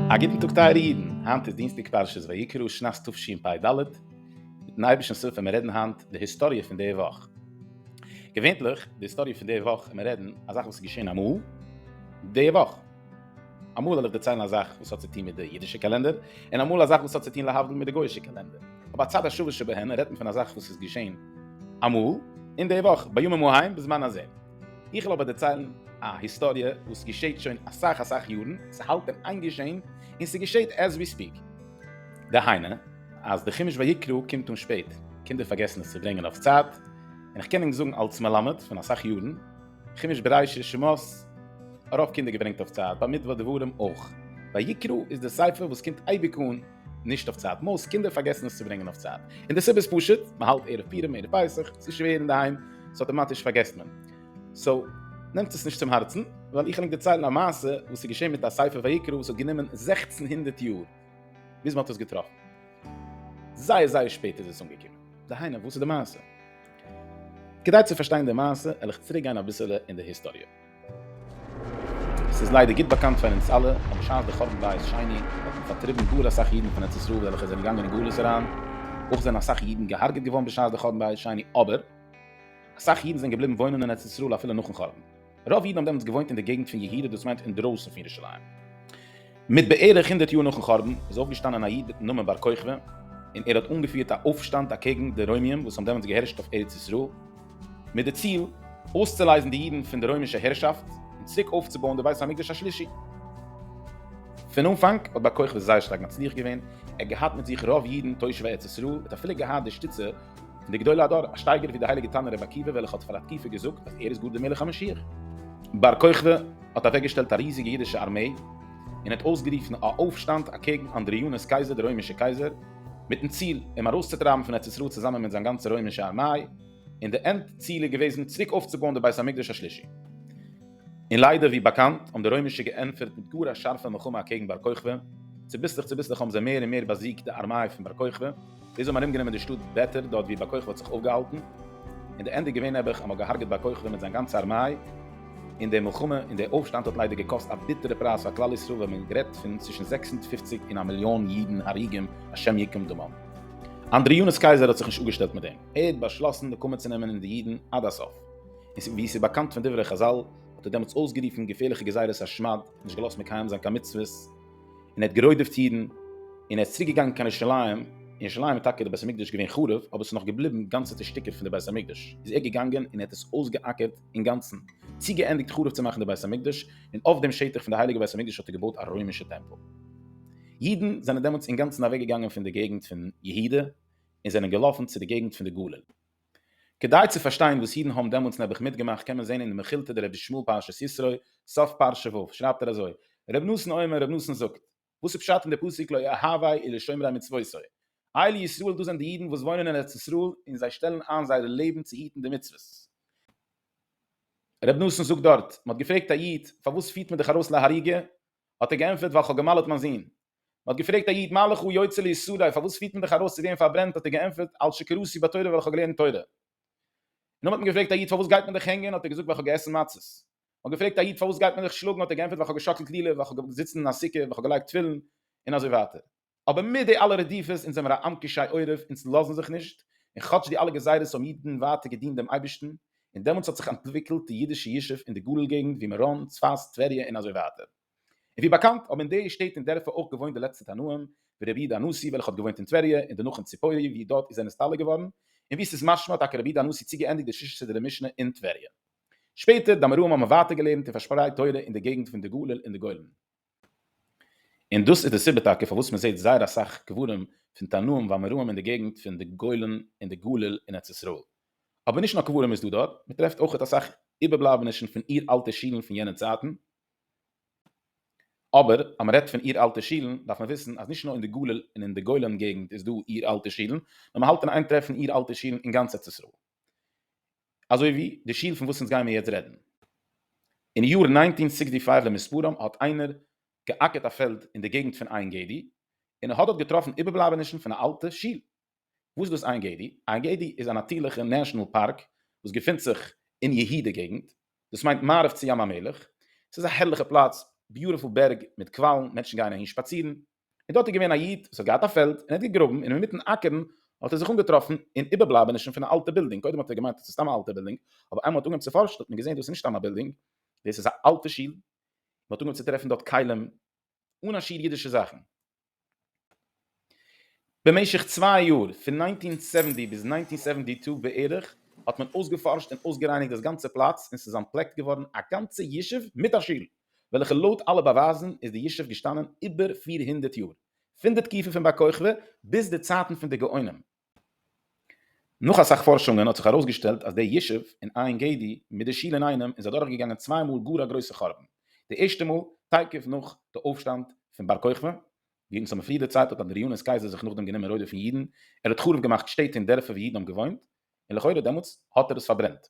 א גוטן טאג טייערע אידן, היינט איז דינסטאג פרשת ויקרא שנת תשפ ד, מיטן אייבערשטנ'ס הילף וועלן מיר רעדן היינט די היסטאריע פון די וואך. געווענליך די היסטאריע פון די וואך ווען מיר רעדן א זאך וואס איז געשען אמאל די וואך. אמאל וועל איך דערציילן א זאך וואס האט צו טון מיט די אידישע קאלענדער, און אמאל א זאך וואס האט צו טון להבדיל מיט די גוי'אישע קאלענדער. אבער הצד השווה שבהן רעדט מען פון א זאך וואס איז געשען אמאל, אין די וואך, בימים ההם בזמן הזה. איך וועל אבער דערציילן א היסטאריע וואס געשעט שוין אסאך אסאך יארן, ס'האלט אין איין געשען, און ס'געשעט עז ווי ספיק. דהיינו, אז די חומש ויקרא קומט אן שפעט, קינדער פארגעסן עס צו ברענגען אויף צייט, און איך קען ענק זאגן אלס מלמד פון אסאך יארן, חומש בראשית, שמות, ארויף קינדער געברענגט אויף צייט, במדבר דברים אויך, ויקרא איז די ספר וואס קומט אייביג אן נישט אויף צייט, מאוסט קינדער פארגעסן עס צו ברענגען אויף צייט, און די סיבה איז פשוט, מען האלט ערב פורים ערב פסח, ס'איז שווער אינדערהיים, סאו אטאמאטיש פארגעסט מען, סאו נעמטס עס נישט צום הארצן, ווייל איך וויל ענק דערציילן א מעשה וואס איז געשען מיט א ספר ויקרא וואס האט גענומען זעכצן הונדערט יאר ביז מען האט עס געטראפן, זייער זייער שפעט איז עס אנגעקומען, דהיינו וואס איז די מעשה? כדי צו פארשטיין די מעשה העל איך צוריק גיין אביסעלע אין די היסטאריע. ס'איז ליידער גוט באקאנט פאר אונז אלע אז בשעת די חורבן בית שני האט מען פארטריבן גאר אסאך אידן פון ארץ ישראל וועלכע זענען געגאנגען אין גלות אריין, אויך זענען אסאך אידן געהארגעט געווארן בשעת די חורבן בית שני, אבער אסאך אידן זענען געבליבן וואוינען אין ארץ ישראל אפילו נאכן חורבן. רוב אידן האבן דעמאלטס געוואוינט אין די געגנט פון יהודה דאס מיינט אינדרויסן פון ירושלים. מיט בערך הונדערט יאר נאכן חורבן איז אויפגעשטאנען א איד מיטן נאמען בר כוכבא און ער האט אנגעפירט א אויפשטאנד אקעגן די רוימיים וואס האבן דעמאלטס געהערשט אויף ארץ ישראל מיט די ציל אויסצולייזן די אידן פון די רוימישע הערשאפט און צוריק אויפצובויען די בית המקדש השלישי. פון אנפאנג האט בר כוכבא זייער שטארק מצליח געווען, ער האט געהאט מיט זיך רוב אידן תושבי ארץ ישראל, ער האט אפילו געהאט די שטיצע די גדולי הדור, א שטייגער ווי די הייליגע תנא רבי עקיבא וועלכע האט פאר א תקופה געזאגט אז ער איז גאר די מלך המשיח. בר כוכבא האט אוועקגעשטעלט א ריזיגע אידישע ארמעי און האט אויסגערופן א אויפשטאנד אקעגן אנדריאנוס קייזער די רוימישע קייזער מיטן ציל אים ארויסצוטרייבן פון ארץ ישראל צוזאמען מיט זיין גאנצע רוימישע ארמיי און די ענד ציל איז געוועזן צוריק אויפצובויען די בית המקדש השלישי. און ליידער ווי באקאנט האבן די רוימישע געענטפערט מיט גאר א שארפע מלחמה אקעגן בר כוכבא, צוביסלעך צוביסלעך האבן זיי מער און מער באזיגט די ארמיי פון בר כוכבא, ביז זיי האבן ארומגענומען די שטאט בעתר דארט ווי בר כוכבא האט זיך אויפגעהאלטן, און די ענד איז געווען נעבעך אז מען האט געהארגעט בר כוכבא מיט זיין גאנצע ארמיי, און די מלחמה און די אויפשטאנד האט ליידער געקאסט א ביטערע פרייז פאר כלל ישראל ווען מען רעדט פון צווישן זעקס הונדערט פֿופֿציק און א מיליאן אידן הרוגים השם יקום דמם. אנדריאנוס קייזער האט זיך נישט אפגעשטעלט מיט דעם, ער האט באשלאסן נקמה צו נעמען אין די אידן עד הסוף, און ווי עס איז באקאנט פון דברי חזל, האט ער דעמאלטס אויסגערופן געפערליכע גזירת השמד, נישט געלאזט מקיים זיין קיין מצוות, און ער האט גערוידעפט אידן, און ער איז צוריק געגאנגען קיין ירושלים, ירושלים איז טאקע דער בית המקדש געווען חרוב, אבער עס איז נאך געבליבן גאנצעטע שטיקער פון דער בית המקדש, איז ער געגאנגען און ער האט עס אויסגעאקערט אינגאנצן, צוגעענדיגט חרוב צו מאכן דער בית המקדש, און אויף דעם שטח פון דער הייליגער בית המקדש האט ער געבויט א רוימישע טעמפל. אידן זענען דעמאלטס אינגאנצן אוועקגעגאנגען פון דער געגנט פון יהודה, און זענען געלאפן צו דער געגנט פון דער גליל. כדי צו פארשטיין וואס אידן האבן דעמאלטס נעבעך מיטגעמאכט קען מען זען אין די מכילתא דרבי שמואל פרשת ישרוי, סוף פרשה ו', שרייבט ער אזוי, רב נתן אומר, רב נתן זאגט, וואס איז פשט אין די פסוק לא אהבי אלא שומרי מצותי, אלי ישראל דאס זענען די אידן וואס וואוינען אין ארץ ישראל און זיי שטעלן איין זייער לעבן צו היטן די מצוות. רב נתן זאגט דארט, מען האט געפרעגט א איד, פארוואס פירט מען דיך ארויס להריגה? האט ער געענטפערט, ווייל כ'האב גע'מל'עט מיין זון. מען האט געפרעגט א איד מה לך יוצא ליסורי פארוואס פירט מען דיך ארויס צו ווערן פארברענט האט ער געענטפערט על שקראתי בתורה ווייל איך האב געלערנט תורה. נאכדעם האט מען געפרעגט א איד פארוואס גייט מען דיך הענגען האט ער געזאגט ווייל איך האב געעסן מצות. מען האט געפרעגט א איד פארוואס גייט מען דיך שלאגן האט ער געענטפערט ווייל איך האב געשאקלט לולב ווייל איך האב געזיצן אין א סוכה ווייל איך האב געלייגט תפילין און אזוי ווייטער. אבער מיט די אלע רדיפות אונז זעמיר א עם קשי עורף אונז לאזן זיך נישט און כאטש די אלע גזירות האבן אידן ווייטער געדינט דעם אייבערשטן און דעמאלטס האט זיך אנטוויקלט די אידישע ישוב אין די גליל געגנט ווי מירון צפת טבריה און אזוי ווייטער. און ווי באקאנט האבן אין די שטעט און דערפער אויך געוואוינט די לעצטע תנאים ווי רבי יהודה הנשיא וועלכע האט געוואוינט אין טבריה און דערנאך אין ציפורי ווי דארט איז ער נסתלק געווארן און ווי ס'איז משמע האט טאקע רבי יהודה הנשיא צוגעענדיגט די שישה סדרי משנה אין טבריה. שפעטער די אמוראים האבן ווייטער געלערנט און פארשפרייט תורה אין די געגנט פון די גליל און די גולן. און דאס איז די סיבה טאקע פארוואס מען זעט זייער אסאך קברים פון תנאים ואמוראים אין די געגנט פון די גולן און די גליל אין ארץ ישראל. אבער נישט נאר קברים איז דא דארט, מען טרעפט אויכעט אסאך איבערבלייבענישן פון אור אלטע שילן פון יענע צייטן, אבער אז מ'רעדט פון איר-אלטע שילן דארף מען וויסן אז נישט נאר אין די גליל און אין די גולן געגנט איז דא איר-אלטע שילן, נאר מ'האלט אין איין טרעפן איר-אלטע שילן אין גאנץ ארץ ישראל. אזוי ווי די שיל פון וואס אונז גיימיר יעצט רעדן. אין יאר ניינטין סיקסטי פייוו למספרם האט איינער געאקערט א פעלד אין די געגנט פון עין גדי, און ער האט דארט געטראפן איבערבלייבענישן פון א אלטע שיל. וואס איז דאס עין גדי? עין גדי איז א נאטירליכע נעשאנעל פארק וואס געפינט זיך אין יהודה געגנט, דאס מיינט מערב צו ים המלח, עס איז א הערליכע פלאץ, ביוטיפול בערג מיט קוואלן, מענטשן גייען אהין שפאצירן, און דארט איז געווען א איד וואס האט געהאט א פעלד און ער האט געגראבן און אינמיטן אקערן האט ער זיך אנגעטראפן אין איבערבלייבענישן פון א אלטע בילדינג, קודם האט ער געמיינט אז עס איז סתם א אלטע בילדינג, אבער איינמאל מען האט אנגעהויבן צו פארשן האט מען געזען דאס איז נישט סתם א בילדינג, דאס איז א אלטע שול, מען האט אנגעהויבן צו טרעפן דארט כלים אן א שיעור אידישע זאכן. במשך צוויי יאר, פון נײַנצן הונדערט זיבעציק ביז נײַנצן הונדערט זיבעציק און צוויי בערך, האט מען אויסגעפארשט און אויסגערייניגט דאס גאנצע פלאץ און ס'איז אנטפלעקט געווארן א גאנצע ישוב מיט א שול, וועלכע לויט אלע באווייזן איז די ישוב געשטאנען איבער פֿיר הונדערט יאר, פון די תקופה פון בר כוכבא ביז די צייטן פון די גאונים. נאך אסאך פארשונגען האט זיך ארויסגעשטעלט אז די ישוב און עין גדי מיט די שול אינאיינעם איז אדורכגעגאנגען צוויי מאל גאר א גרויסע חורבן, די ערשטע מאל תיכף נאך די אויפשטאנד פון בר כוכבא, ווי אונז האבן פריער דערציילט האט אדריאנוס קייזער זיך נאכדעם גענומען רודף'ן אידן, ער האט חרוב געמאכט שטעט און דערפער ווי אידן האבן געוואוינט, און לכאורה דעמאלטס האט ער עס פארברענט.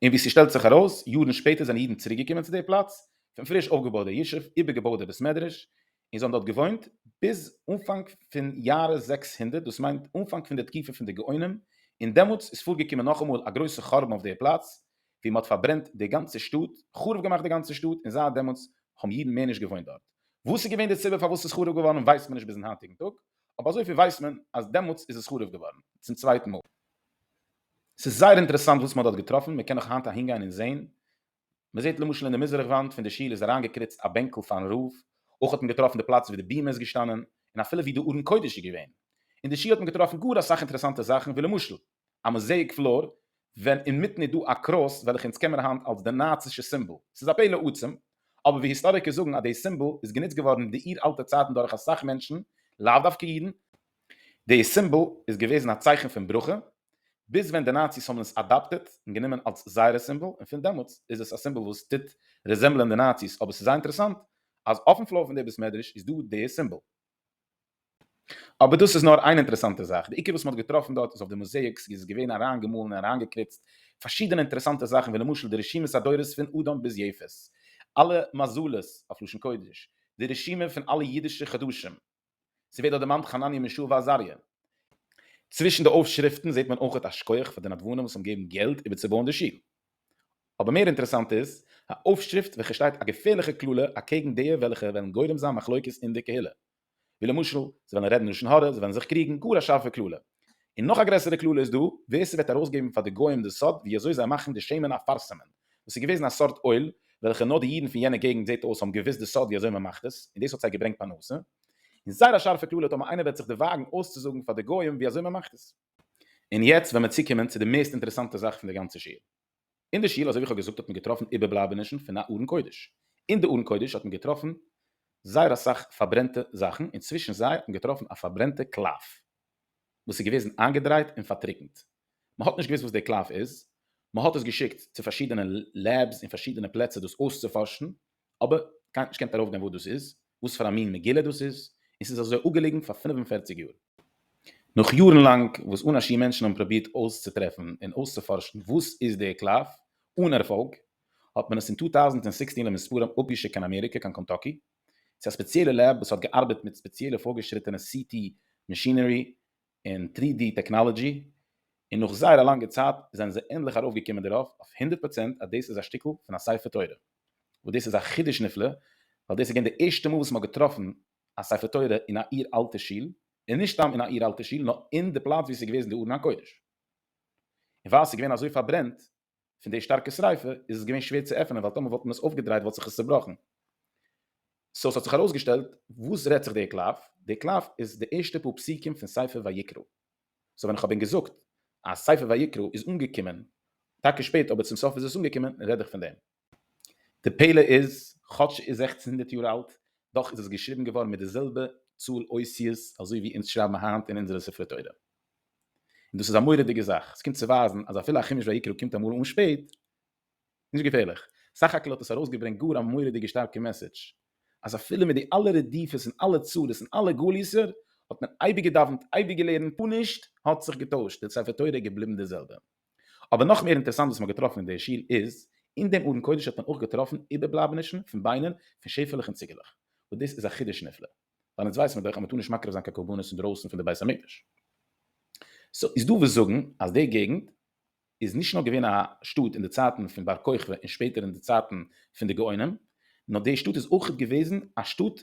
און ווי ס'שטעלט זיך ארויס, יארן שפעטער זענען אידן צוריק געקומען צו די פלאץ, פון פריש אויפגעבויט די ישוב, איבערגעבויט די בית מדרש, און זיי האבן דארט געוואוינט ביז אנפאנג פון יארע זעקס הונדערט, דאס מיינט אנפאנג פון די תקופה פון די גאונים, און דעמאלטס איז פארגעקומען נאכאמאל א גרויסע חרבן אויף דער פלאץ, ווי מען האט פארברענט די גאנצע שטאט, חרוב געמאכט די גאנצע שטאט, און זייט דעמאלטס האבן אידן מער נישט געוואוינט דארט. וואס איז געווען די סיבה פארוואס עס איז חרוב געווארן ווייסט מען נישט ביזן היינטיגן טאג, אבער אזויפיל ווייסט מען אז דעמאלטס איז עס חרוב געווארן צום צווייטן מאל. ס'איז זייער אינטערעסאנט וואס מען האט דארט געטראפן, מען קען נאך היינט אהינגיין און זען מען זעט למשל אין די מזרח וואנט פון די שול איז אריינגעקריצט א בענקל פארן רב, אויך האט מען געטראפן די פלאץ ווי די בימה איז געשטאנען, און אפילו ווי די ארון קודש איז געווען. אין די שול האט מען געטראפן גאר אסאך אינטערעסאנטע זאכן ווי למשל, א מאזעיק פלאר ווען אינמיטן איז דא א קרוס וועלכע אונז קען מען היינט אלס די נאצישע סימבאל, ס'איז א פלא עצום, אבער ווי היסטאריקער זאגן אז די סימבאל איז גענוצט געווארן אין די אור אלטע צייטן דורך אסאך מענטשן, לאו דווקא אידן, די סימבאל איז געוועזן א צייכן פון ברכה, ביז ווען די נאציס האבן עס אדאפטעט און גענומען אלס זייערע סימבאל, און פון דעמאלטס איז עס א סימבאל וואס טוט רעזעמבלען די נאציס, אבער ס'איז זייער אינטערעסאנט אז אויפן פלאר פון די בית מדרש איז דא די סימבאל. אבער דאס איז נאר איין אינטערעסאנטע זאך, די עיקר וואס מ'האט געטראפן דארט איז אויף די מאזעיקס איז עס געווען אריין געמאלן און אריין געקריצט פארשידענע אינטערעסאנטע זאכן ווי למשל די רשימת הדורות פון אדם ביז יעפת, אלע מזלות אויף לשון קודש, די רשימה פון אלע אידישע חדשים, ס'ווערט דארט דערמאנט חנניה מישאל ועזריה. צווישן די אויפשריפטן זעט מען אויכעט א שכח פאר די נדבנים וואס האבן געגעבן געלט איבערצובויען די שול. אבער מער אינטערעסאנט איז א אויפשריפט וועלכע שטייט א געפערליכע קללה אקעגן דיע וועלכע וועלן גורם זיין מחלוקת אין די קהילה. ווי למשל, זיי וועלן רעדן לשון הרע, זיי וועלן זיך קריגן, גאר א שארפע קללה. און נאך א גרעסערע קללה איז דא, ווער ס'וועט ארויסגעבן פאר די גוים די סוד ווי אזוי זיי מאכן די שמן אפרסמ'ען, וואס איז געוועזן א סארט אוהל וועלכע נאר די אידן פון יענע געגנט זעט אויס האבן געוואוסט די סוד ווי אזוי מען מאכט עס, און דאס האט זיי געברענגט פרנסה, און זייער א שארפע קללה טאמער איינער וועט זיך דערוואגן אויסצוזאגן פאר די גוים ווי אזוי מען מאכט עס. און יעצט וועל מען צוקומען צו די מערסט אינטערעסאנטע זאך פון די גאנצע שיעור. אין די שול אזוי ווי איך האב געזאגט האט מען געטראפן איבערבלייבענישן פון א ארון קודש, אין די ארון קודש האט מען געטראפן זייער אסאך פארברענטע זאכן, און צווישן זיי האט מען געטראפן א פארברענטע קלף, וואס איז געוועזן איינגעדרייט און פארטריקנט, מען האט נישט געוואוסט וואס די קלף איז, מען האט עס געשיקט צו פארשידענע לעבס און פארשידענע פלעצער דאס אויסצופארשן, אבער קיינער האט נישט געקענט ארויפגיין וואס דאס איז, וואס פאר א מין מגילה דאס איז, און ס'איז אזוי אפגעליגן פאר פינף און פערציג יאר. נאך יארן לאנג וואס אן א שיעור מענטשן האבן פרובירט אויסצוטרעפן און אויסצופארשן וואס איז די קלף, אן ערפאלג, האט מען עס אין טו טאוזנט און זעקסצן למספרם אפגעשיקט קיין אמעריקע, קיין קענטאקי, צו א ספעציעלע לעב וואס האט געארבעט מיט ספעציעלע פארגעשריטענע סי טי מאשינערי און טרי די טעקנאלעדזשי און נאך זייער א לאנגע צייט זענען זיי ענדליך ארויפגעקומען דערויף אויף הונדערט פראצענט אז דאס איז א שטיקל פון א ספר תורה וואס דאס איז א חידוש נפלא ווייל דאס איז געווען די ערשטע מאל וואס מ'האט געטראפן א ספר תורה אין א אור אלטע שול און נישט סתם אין א אור אלטע שול נאר אין די פלאץ ווי ס'איז געוועזן די ארון הקודש און ווייל ס'איז געווען אזוי פארברענט פון די שטארקע שריפה איז עס געווען שווער צו עפענען ווייל טאמער וואלט מען עס אויפגעדרייט וואלט זיך עס צעבראכן סאו ס'האט זיך ארויסגעשטעלט וואס רעדט זיך די קלף, די קלף איז די ערשטע פאר פסוקים פון ספר ויקרא, סאו ווען כ'האב ווען געזאגט אז ספר ויקרא איז אנגעקומען טאקע שפעט אבער צום סוף איז עס אנגעקומען רעד איך פון דעם. די פלא איז, כאטש ס'איז זעכצן הונדערט יאר אלט, דאך איז עס געשריבן געווארן מיט די זעלבע צאל אותיות אזוי ווי אונז שרייבן היינט אין אונזערע ספרי תורה. און דאס איז א מורא'דיגע זאך, עס קומט צו ווייזן אז אפילו א חומש ויקרא קומט אמאל אן שפעט, נישט געפערליך. סך הכל האט עס ארויסגעברענגט גאר א מורא'דיגע שטארקע מעסעדזש, אז אפילו מיט די אלע רדיפות און אלע צרות און אלע גלות'ער, האט מען אייביג געדאוונט, אייביג געלערנט, פארנישט האט זיך געטוישט, די ספר תורה איז געבליבן די זעלבע. אבער נאך מער אינטערעסאנט וואס מען האט געטראפן אין די אשיר איז, אין דעם ארון קודש האט מען אויך געטראפן איבערבלייבענישן פון ביינער פון שעפעלעך און ציגעלעך, וואס דאס איז א חידוש נפלא, ווייל אונז ווייסן מיר דאך אז מען טאר נישט מקריב זיין קיין קרבנות אינדרויסן פון די בית המקדש. סא איז דא וואס זאגן אז די געגנט איז נישט נאר געווען א שטאט אין די צייטן פון בר כוכבא און שפעטער אין די צייטן פון די גאונים, נאר די שטאט איז אויכעט געוועזן א שטאט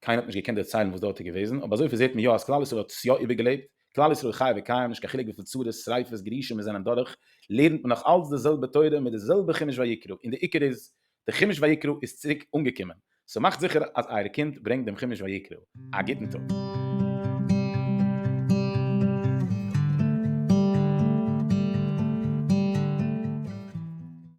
קיינער האט נישט געקענט דערציילן וואס דארט איז געוועזן, אבער אזויפיל זעט מען יא אז כלל ישראל האט עס יא איבערגעלעבט, כלל ישראל חי וקיים, נישט קיין חילוק וויפיל צרות, שריפות, גירושים מיר זענען דורך, לערנט מען נאך אלץ די זעלבע תורה מיט די זעלבע חומש ויקרא, און די עיקר איז, די חומש ויקרא איז צוריק אנגעקומען, סאו מאכט זיכער אז אייער קינד ברענגט דעם חומש ויקרא. א גוטן טאג.